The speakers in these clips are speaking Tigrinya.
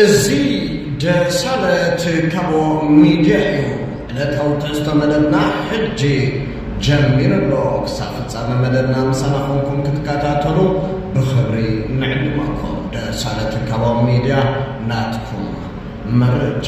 እዚ ደሳለት ካቦ ሚድያ እዩ ዕለታዊ ትሕዝቶ መደብና ሕጂ ጀሚሩ ኣሎ ክሳብ ፍጻመ መደብና ምሳና ኮንኩም ክትከታተሉ ብኽብሪ ንዕድመኩም ደሳለት ካቦ ሚድያ ናትኩም መረጃ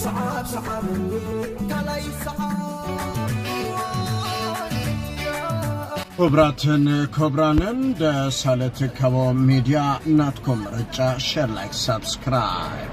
ስዓብ ስዓበኒ ካልኣይ ይስዓብ። ክብራትን ክብራንን ደሳለ ትካቦ ሚድያ ናትኩም ምርጫ ሸር ላይክ ሳብስክራይብ።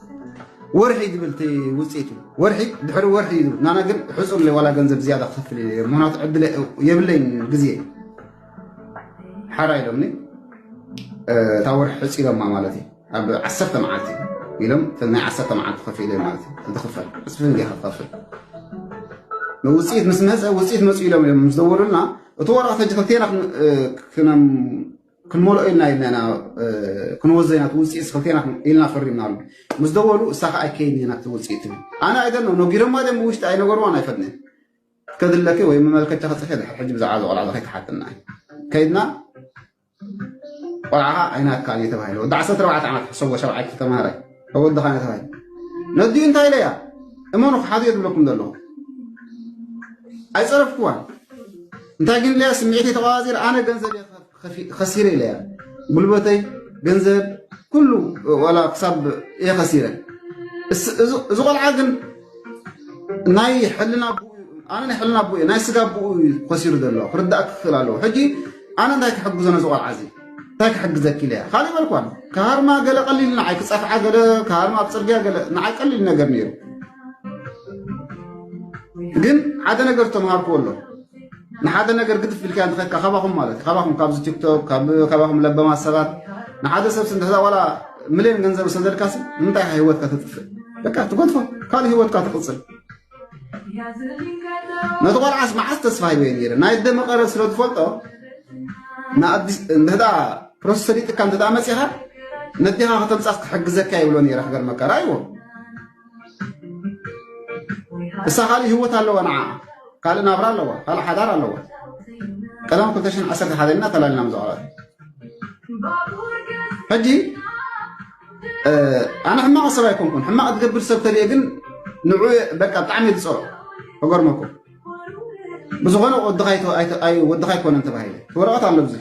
ወርሒ ዝብል እቲ ውፅኢቱ ወርሒ ድሕሪ ወርሒ እዩ ዝብል ናና ግን ሕፁር ዋላ ገንዘብ ዝያዳ ክኸፍል እየ ምክንያቱ ዕድለ የብለይን ግዜ ሓራ ኢሎምኒ እታ ወርሒ ሕፂሎማ ማለት እዩ ኣብ ዓሰርተ መዓልቲ ኢሎም ናይ ዓሰርተ መዓልቲ ከፍለ ማለት እዩ እንትኽፈል ዕፅፊ እንዲ ክኸፍል ውፅኢት ምስ መፀ ውፅኢት መፅኡ ኢሎም እዮም ምስ ደወሉልና እቲ ወረቐት ሕጂ ክልቴና ክንመልኦ ኢልና ኢልና ኢና ክንወዘ ኢና እቲ ውፅኢት ክልቴና ኢልና ፈሪምናሉ ምስ ደወሉ እሳ ከዓ ኣይከይን ኢና እቲ ውፅኢት ትብል ኣነ ኣይደኖ ነጊሮማ ድም ብውሽጢ ኣይነገርዋን ኣይፈጥነ ከድለኪ ወይ መመልከቻ ክፅሒ ድሕር ሕጂ ብዛዕባ እዚ ቆልዓ ከይተሓትና ከይድና ቆልዓኻ ኣይናትካን እዩ ተባሂለ ወዲ ዓሰርተ ኣርባዕተ ዓመት ሕሰቦ ሸብዓይቲ ተምሃራይ እወ ድኻ ነታ ፋይል ነዲኡ እንታይ ኢለያ እመኑ ክሓዱ እየ ዝብለኩም ዘለኹ ኣይፀረፍኩዋን እንታይ ግን ኢለያ ስምዒተይ ተቋዋፂር ኣነ ገንዘብ ከሲረ ኢለያ ጉልበተይ ገንዘብ ኩሉ ዋላ ክሳብ እየ ከሲረ እዚ ቆልዓ ግን ናይ ሕልና ኣነ ናይ ሕልና ኣቦ እየ ናይ ስጋ ኣቦኡ እዩ ከሲሩ ዘሎ ክርዳእ ክክእል ኣለዎ ሕጂ ኣነ እንታይ ክሕግዞ ነዚ ቆልዓ እዚ እንታይ ክሕግዘኪ ኢለ እያ ካልእ በልኳን ክሃርማ ገለ ቀሊል ንዓይ ክፀፍዓ ገለ ክሃርማ ኣብ ፅርግያ ገለ ንዓይ ቀሊል ነገር ነይሩ ግን ሓደ ነገር ተምሃርኩዎ ኣሎ ንሓደ ነገር ግድፍ ኢልካ ንኸካ ካባኹም ማለት እዩ ካባኹም ካብዚ ቲክቶክ ካባኹም ለበማት ሰባት ንሓደ ሰብ ስንድሕዛ ዋላ ሚልዮን ገንዘብ ሰደድካሲ ንምንታይ ህይወትካ ተጥፍእ በቃ ትጎድፎ ካልእ ህይወትካ ትቕፅል ነቲ ቆልዓስ መዓስ ተስፋ ሂበ ነይረ ናይ ደመቀረ ስለ ትፈልጦ ንድሕዳ ፕሮሰስ ሰሊጥካ እንተ መፂኻ ነዴኻ ከተምፃስ ክሕግዘካ ይብሎ ነይረ ክገርመካ ራይዎ እሳ ካልእ ህይወት ኣለዋ ንዓ ካልእ ናብራ ኣለዋ ካልእ ሓዳር ኣለዋ ቀደም 211 ኢና ተላልና ምዛዕባ ሕጂ ኣነ ሕማቕ ሰብ ኣይኮንኩን። ሕማቕ ዝገብር ሰብ ተሪኤ ግን ንዑ በቃ ብጣዕሚ ዝፀሮ ተገርመኩም ብዝኾነ ወድኻ ኣይኮነን ተባሂለ ወረቐት ኣሎ ዚ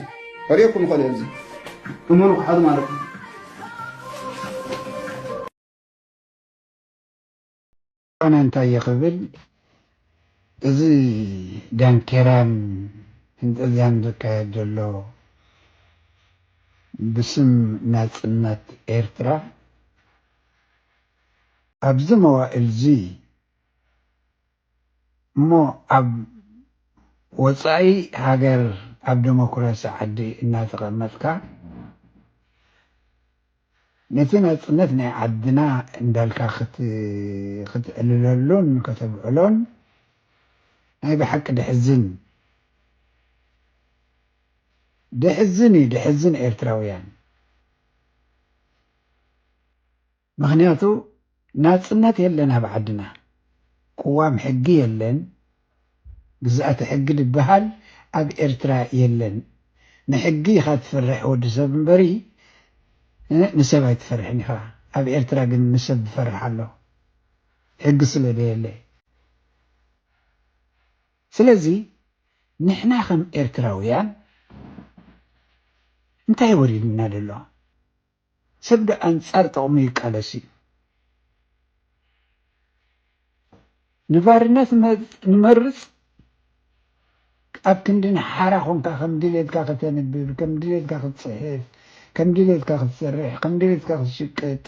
ከሪኩም ይኸእሉ ዚ እመኑ ክሓዱ ማለት እዩ ኣነ እንታይ እየ ክብል እዚ ዳንኬራን ፍንጠዝያን ዝካየድ ዘሎ ብስም ናጽነት ኤርትራ ኣብዚ መዋእልዚ እሞ ኣብ ወጻኢ ሃገር ኣብ ደሞክራሲ ዓዲ እናተቐመጥካ ነቲ ናጽነት ናይ ዓድና እንዳልካ ክትዕልለሉን ከተብዕሎን ናይ ብሓቂ ደሕዝን ደሕዝን እዩ ደሕዝን ኤርትራውያን ምክንያቱ ናጽነት የለን ኣብ ዓድና ቁዋም ሕጊ የለን ግዝኣተ ሕጊ ድበሃል ኣብ ኤርትራ የለን ንሕጊ ኢካ ትፈርሕ ወዲ ሰብ እምበሪ ንሰብ ኣይትፈርሕን ኢካ ኣብ ኤርትራ ግን ንሰብ ድፈርሕ ኣሎ ሕጊ ስለ ደየለ ስለዚ ንሕና ከም ኤርትራውያን እንታይ ወሪድና ደሎ ሰብ ዶ ኣንጻር ጥቕሙ ይቃለስ እዩ? ንባርነት ንመርጽ ኣብ ክንዲ ንሓራ ኮንካ ከም ድሌትካ ከተንብብ፣ ከም ድሌትካ ክትጽሕፍ፣ ከም ድሌትካ ክትሰርሕ፣ ከም ድሌትካ ክትሽቅጥ፣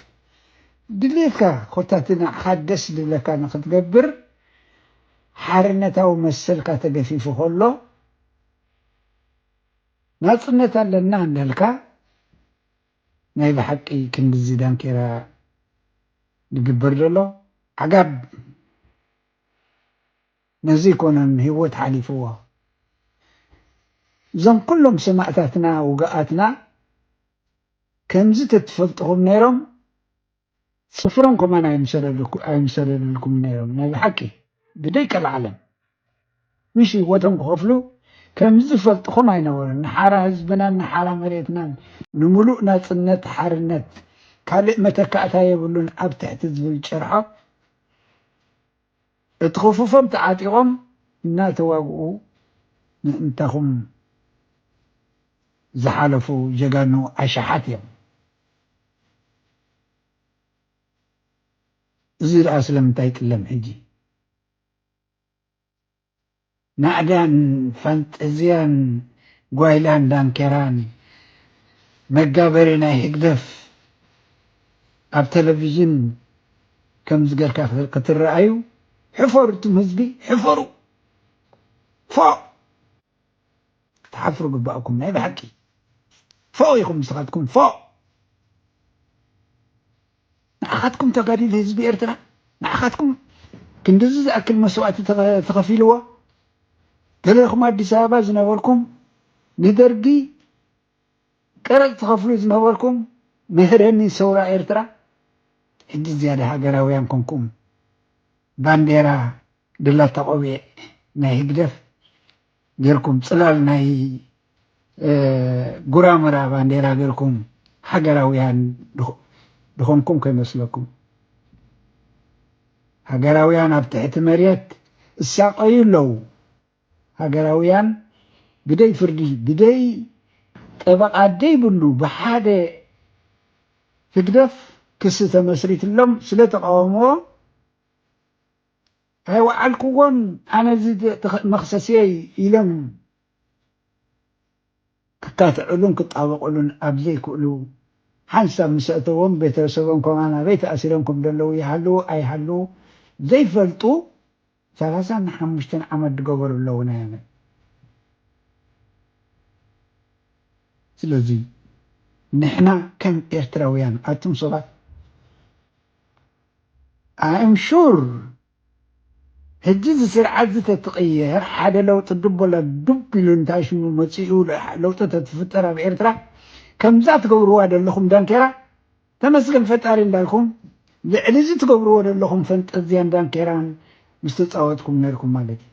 ድሌትካ ኮታ እቲ ንዓኻ ደስ ድብለካ ንክትገብር ሓርነታዊ መሰልካ ተገፊፉ ከሎ፣ ናጽነት ኣለና እንዳልካ ናይ ብሓቂ ክንድዚ ዳንኬራ ድግበር ደሎ ዓጋብ ነዚ ኣይኮነን ሂወት ሓሊፍዎ እዞም ኩሎም ሰማእታትና ውጉኣትና ከምዚ ተትፈልጥኹም ነይሮም ስፍሮም ከማን ኣይምሰለልኩምን ነይሮም ናይ ብሓቂ ብደይ ቀልዓለም ዊሽ ሂወቶም ክከፍሉ ከምዚ ዝፈልጥኹም ኣይነበሩን ንሓራ ህዝብናን ንሓራ መሬትናን ንሙሉእ ናጽነት ሓርነት ካልእ መተካእታ የብሉን ኣብ ትሕቲ ዝብል ጭርሖ እቲ ክፉፎም ተዓጢቆም እናተዋግኡ ምእንታኹም ዝሓለፉ ጀጋኑ ኣሽሓት እዮም። እዚ ድኣ ስለምንታይ ጥለም ሕጂ ናእዳን ፋንጠዝያን ጓይላን ዳንኬራን መጋበርያ ናይ ህግደፍ ኣብ ተለቪዥን ከምዚ ገርካ ክትረኣዩ ሕፈሩ ትም ህዝቢ ሕፈሩ ፎእ። ክትሓፍሩ ግባኣኩም ናይ ብሓቂ ፎእ ኢኩም ንስካትኩም ፎእ ንዓካትኩም ተጋዲል ህዝቢ ኤርትራ ንዓካትኩም ክንድዚ ዝኣክል መስዋእቲ ተከፊልዎ ገለኩም ኣዲስ ኣበባ ዝነበርኩም ንደርጊ ቀረጽ ትከፍሉ ዝነበርኩም መህረኒ ሰውራ ኤርትራ ሕጂ ዝያዳ ሃገራውያን ኮንኩም ባንዴራ ድላታ ቆቢዕ ናይ ህግደፍ ገርኩም ጽላል ናይ ጉራምራ ባንዴራ ገርኩም ሃገራውያን ድኮንኩም ከይመስለኩም ሃገራውያን ኣብ ትሕቲ መሬት እሳቀዩ ኣለዉ ሃገራውያን ብደይ ፍርዲ ብደይ ጠበቃ ደይ ብሉ ብሓደ ህግደፍ ክሲ ተመስሪትሎም ስለ ተቃወምዎ ኣይወዓልክዎን ኣነ እዚ መኽሰስየይ ኢሎም ክካትዕሉን ክጣበቕሉን ኣብ ዘይክእሉ ሓንሳብ ምስ ኣእተዎም ቤተሰቦም ከማን ኣበይ ተኣሲሮም ከም ዘለዉ ይሃልዉ ኣይሃልዉ ዘይፈልጡ ሰላሳን ሓሙሽተን ዓመት ዝገበሩ ኣለዉ ናይ ኣመት ስለዚ ንሕና ከም ኤርትራውያን ኣቱም ሰባት። ኣም ሹር ህጂ እዚ ስርዓት እዚ ተትቅየር ሓደ ለውጢ ድብ ወላ ዱብ ኢሉ እንታይ ሽሙ መጺኡ ለውጢ ተትፍጠር ኣብ ኤርትራ ከምዛ ትገብርዋ ደለኹም ዳንኬራ ተመስገን ፈጣሪ እንዳልኩም ልዕሊ እዚ ትገብርዎ ደለኹም ፈንጠዝያን ዳንኬራን ምስተጻወትኩም ነርኩም ማለት እዩ።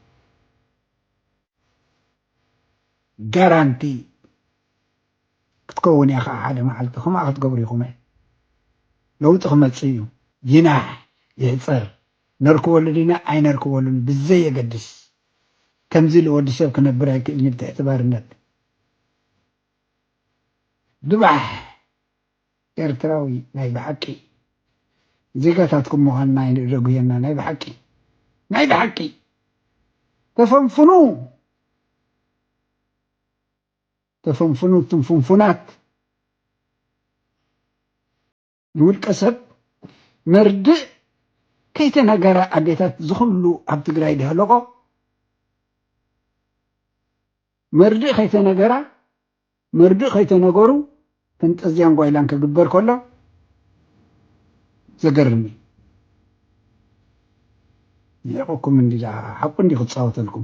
ጋራንቲ ክትከውን እያ ከኣ ሓደ መዓልቲ ከምኣ ክትገብሩ ኢኹም እየ ለውጢ ክመጽእ እዩ ይናሕ ይሕጸር ነርክበሉ ዲና ኣይነርክበሉን ብዘየገድስ ከምዚ ኢሉ ወዲ ሰብ ክነብር ኣይክእልንዩ ብትሕቲ ባርነት ድባሕ። ኤርትራዊ ናይ ብሓቂ ዜጋታትኩም ምዃንና ይንእደጉየና ናይ ብሓቂ ናይ ብሓቂ ተፈንፍኑ ተፈንፍኑ እቱም ፍንፉናት ንውልቀ ሰብ መርድእ ከይተነገረ ኣዴታት ዝኹሉ ኣብ ትግራይ ደህለቆ መርድእ ከይተነገራ መርድእ ከይተነገሩ ፈንጠዝያን ጓይላን ክግበር ከሎ ዘገርም እዩ። ሊሒቁኩም እንዲላ ሓቁ እንዲዩ ክጻወተልኩም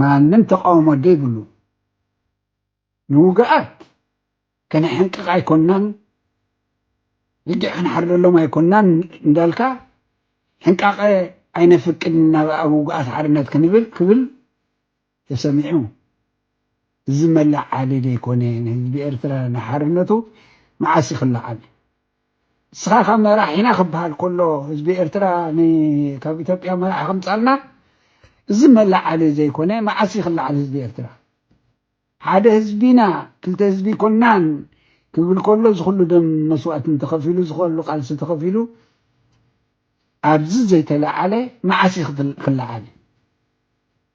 ማንም ተቃውሞ ደይብሉ ንውግኣት ከነሐንቅቅ ኣይኮናን ልጊዕ ክንሓርደሎም ኣይኮናን እንዳልካ ሕንቃቀ ኣይነፍቅድን ናብ ኣብ ውግኣት ሓርነት ክንብል ክብል ተሰሚዑ እዚ መለዓሊ ደይኮነ ንህዝቢ ኤርትራ ንሓርነቱ መዓስ እዩ ክለዓል ንስኻ ካብ መራሒና ክበሃል ከሎ ህዝቢ ኤርትራ ን ካብ ኢትዮጵያ መራሒ ክምጻልና እዚ መለዓሊ ዘይኮነ መዓስ እዩ ክለዓል ህዝቢ ኤርትራ ሓደ ህዝቢ ኢና ክልተ ህዝቢ ኣይኮናን ክብል ከሎ እዚ ኩሉ ደም መስዋእትን ተኸፊሉ እዚ ከሉ ቃልሲ ተኸፊሉ ኣብዚ ዘይተለዓለ መዓስ እዩ ክለዓል።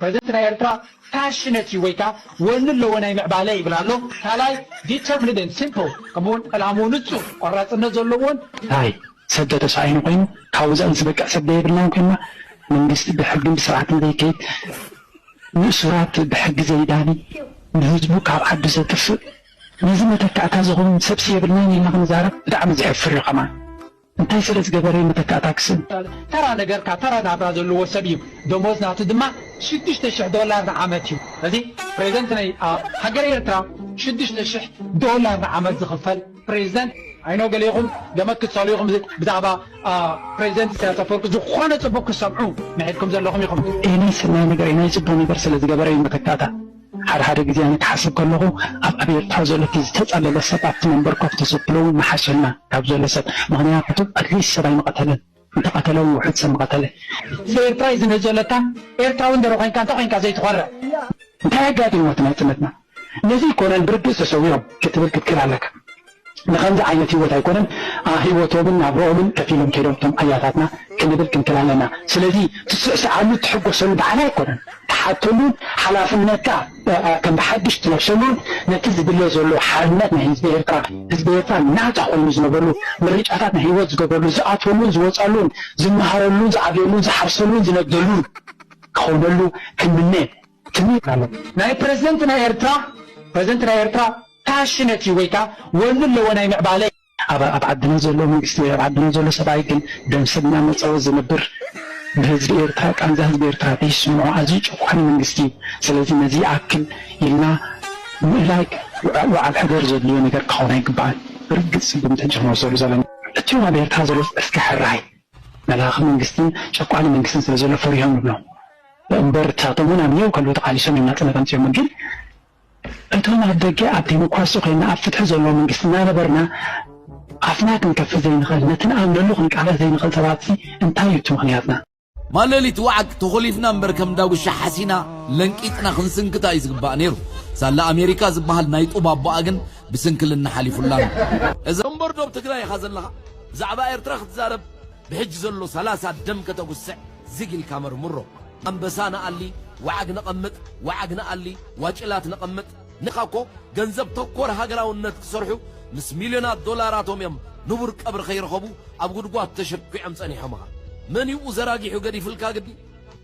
ፕረዚደንት ናይ ኤርትራ ፓሽነት እዩ ወይ ከኣ ወኒ ኣለዎ ናይ ምዕባለ ይብል ኣሎ ካልኣይ ዲተርምንድ ኤንድ ሲምፕል ከምኡውን ዕላምኡ ንጹር ቆራጽነት ዘለዎን ናይ ሰብ ተተሳኢኑ ኮይኑ ካብ ወጻኢ ዝበቅዕ ሰብ ዘየብልናን ኮይንና መንግስቲ ብሕግን ብስርዓትን ዘይከይድ ንእሱራት ብሕጊ ዘይዳኒ ንህዝቡ ካብ ዓዱ ዘጥፍእ ነዚ መተካእታ ዝኸውን ሰብሲ የብልናን ኢልና ክንዛረብ ብጣዕሚ ዘሕፍር እዩ ከማን እንታይ ስለ ዝገበረ እዩ መተካእታ ክስብ? ተራ ነገር ካብ ተራ ናብራ ዘለዎ ሰብ እዩ። ደሞዝ ናቱ ድማ ሽዱሽተ ሽሕ ዶላር ንዓመት እዩ። እዚ ፕሬዝደንት ናይ ኣብ ሃገረ ኤርትራ ሽዱሽተ ሽሕ ዶላር ንዓመት ዝኽፈል ፕሬዝደንት ኣይ ኖው ገለ ኢኹም ገመት ክትሰእሉ ኢኹም ብዛዕባ ፕሬዝደንት ኢሳያስ ኣፈወርቂ ዝኾነ ጽቡቕ ክትሰምዑ ምሒርኩም ዘለኹም ኢኹም። ኤሊ ሰናይ ነገር እዩ ናይ ጽቡቕ ነገር ስለ ዝገበረ እዩ መተካእታ። ሓደ ሓደ ግዜ ኣነ ክሓስብ ከለኹ ኣብ ኣብ ኤርትራ ዘሎ እቲ ዝተጸለለ ሰብ ኣብቲ መንበር ኮፍ ተሰብሎ ውን ምሓሸና ካብ ዘሎ ሰብ ምኽንያቱ ኣትሊስት ሰብ ኣይምቐተለን እንተቐተለ ውን ውሑድ ሰብ ምቐተለ። ህዝቢ ኤርትራ ዩ ዝምህዘለካ ኤርትራዊ እንድሮ ኮንካ እንታይ ኮንካ ዘይትኾርዕ። እንታይ ኣጋጢምዎ እቲ ናጽነትና ነዚ ይኮነን ብርግጽ ተሰዊኦም ክትብል ክትክእል ኣለካ። ንከምዚ ዓይነት ሂወት ኣይኮነን ኣ ሂወቶምን ናብርኦምን ከፊሎም ከይዶም እቶም ኣያታትና ክንብል ክንክል ኣለና ስለዚ ትስዕስዓሉ ትሕጎሰሉ ብዓል ኣይኮነን ትሓተሉን ሓላፍነትካ ከም ብሓድሽ ትለብሰሉን ነቲ ዝድለ ዘሎ ሓርነት ናይ ህዝቢ ኤርትራ ህዝቢ ኤርትራ ናታ ኮይኑ ዝነብረሉ ምርጫታት ናይ ሂወት ዝገብረሉ ዝኣትወሉን ዝወጻሉን ዝመሃረሉን ዝዓብየሉን ዝሓርሰሉን ዝነግደሉን ክኾነሉ ክንምነ ክብሪት ኣሎ ናይ ፕረዝደንት ናይ ኤርትራ ፕረዝደንት ናይ ኤርትራ ፓሽነት እዩ ወይ ከኣ ወኑ ኣለዎ ናይ ምዕባለ። ኣብ ኣብ ዓድና ዘሎ መንግስቲ ወይ ኣብ ዓድና ዘሎ ሰብኣይ ግን ደም ሰብ እናመጸወ ዝነብር ብህዝቢ ኤርትራ ቃንዛ ህዝቢ ኤርትራ ዘይስምዖ ኣዝዩ ጨቋኒ መንግስቲ እዩ ስለዚ ነዚ ይኣክል ኢልና ምእላይ ውዓል ሕደር ዘድልዮ ነገር ክኸውን ኣይግባእን ብርግጽ ስጉምቲ እንጅምወስደሉ ዘለና እትዮም ኣብ ኤርትራ ዘሎ እስከ ሕራይ መላኺ መንግስትን ጨቋኒ መንግስትን ስለ ዘሎ ፈሪሆም ይብሎም እምበር ንሳቶም ውን ኣብ ኒዮው ከለዉ ተቓሊሶም እዮም ናጽነት ኣምጺኦሞ ግን እቶም ኣብ ደገ ኣብ ዴሞክራሲ ኮይና ኣብ ፍትሒ ዘለዎ መንግስቲ እናነበርና ኣፍና ክንከፍት ዘይንኽእል ነቲ ንኣምነሉ ክንቃለስ ዘይንኽእል ሰባትሲ እንታይ እዩ እቲ ምኽንያትና? ማለሊት ዋዕግ ተኾሊፍና እምበር ከም ዳጉሻ ሓሲና ለንቂጥና ክንስንክታ እዩ ዝግባእ ነይሩ። ሳላ ኣሜሪካ ዝባሃል ናይ ጡብ ኣቦኣ ግን ብስንክልና ሓሊፉላ ኣሎ። እዛ እምበር ዶብ ትግራይ ኢኻ ዘለኻ። ብዛዕባ ኤርትራ ክትዛረብ ብሕጂ ዘሎ ሰላሳ ደም ከተጉስዕ ዝግ ኢልካ መርምሮ። ኣንበሳ ንኣሊ ዋዓግ ነቐምጥ ዋዓግ ንኣሊ ዋጭላት ነቐምጥ። ንሕካ እኮ ገንዘብ ተኮር ሃገራውነት ክሰርሑ ምስ ሚልዮናት ዶላራቶም እዮም ንቡር ቀብሪ ከይረኸቡ ኣብ ጉድጓድ ተሸኲዖም ጸኒሖምኻ። መን እዩ ኡዘራጊሑ ገዲፍልካ ግዲ?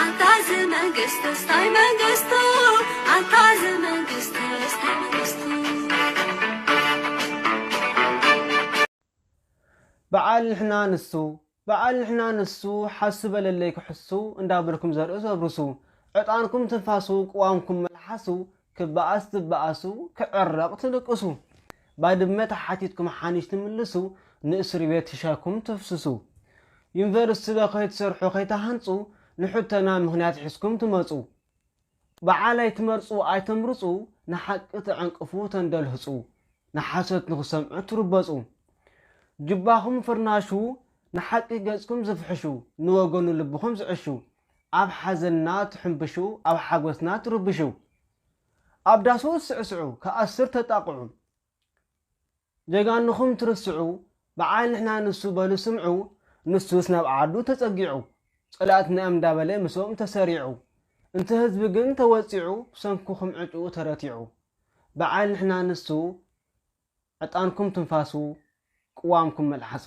ኣንታ እዚ መንግስትስ ታይ መንግስቱ ኣንታ እዚ መንግስትስ ታይ መንግስቱ። በዓል ንሕና ንሱ በዓል ንሕና ንሱ ሓሱ በለለይ ክሕሱ እንዳበልኩም ዘርእስ ኣብርሱ ዕጣንኩም ትንፋሱ ቅዋምኩም መልሓሱ ክበኣስ ትበኣሱ ክዕረቕ ትልቅሱ ባድመ ተሓቲትኩም ሓንሽ ትምልሱ ንእስርቤት ሽሻይኩም ተፍስሱ ዩኒቨርስቲ'ዶ ከይትሰርሑ ከይትሃንጹ ንሕቶና ምኽንያት ሒዝኩም ትመጹ በዓል ኣይትመርጹ ኣይተምርጹ ንሓቂ ትዕንቅፉ ተንደልህጹ ንሓሶት ንኽሰምዑ ትርበጹ ጁባኹም ፍርናሹ ንሓቂ ገጽኩም ዝፍሕሹ ንወገኑ ልብኹም ዝዕሹ ኣብ ሓዘንና ትሕንብሹ ኣብ ሓጎስና ትርብሹ ኣብ ዳሱ ትስዕስዑ ክኣስር ተጣቕዑ ጀጋኑኹም ትርስዑ በዓል ንሕና ንሱ በሉ ስምዑ ንሱስ ናብ ዓዱ ተጸጊዑ ጸላእትና እዮም እንዳበለ ምስኦም ተሰሪዑ እንተ ህዝቢ ግን ተወጺዑ ብሰንኩኹም ዕጭኡ ተረቲዑ በዓል ንሕና ንሱ ዕጣንኩም ትንፋሱ ቅዋምኩም መልሓሱ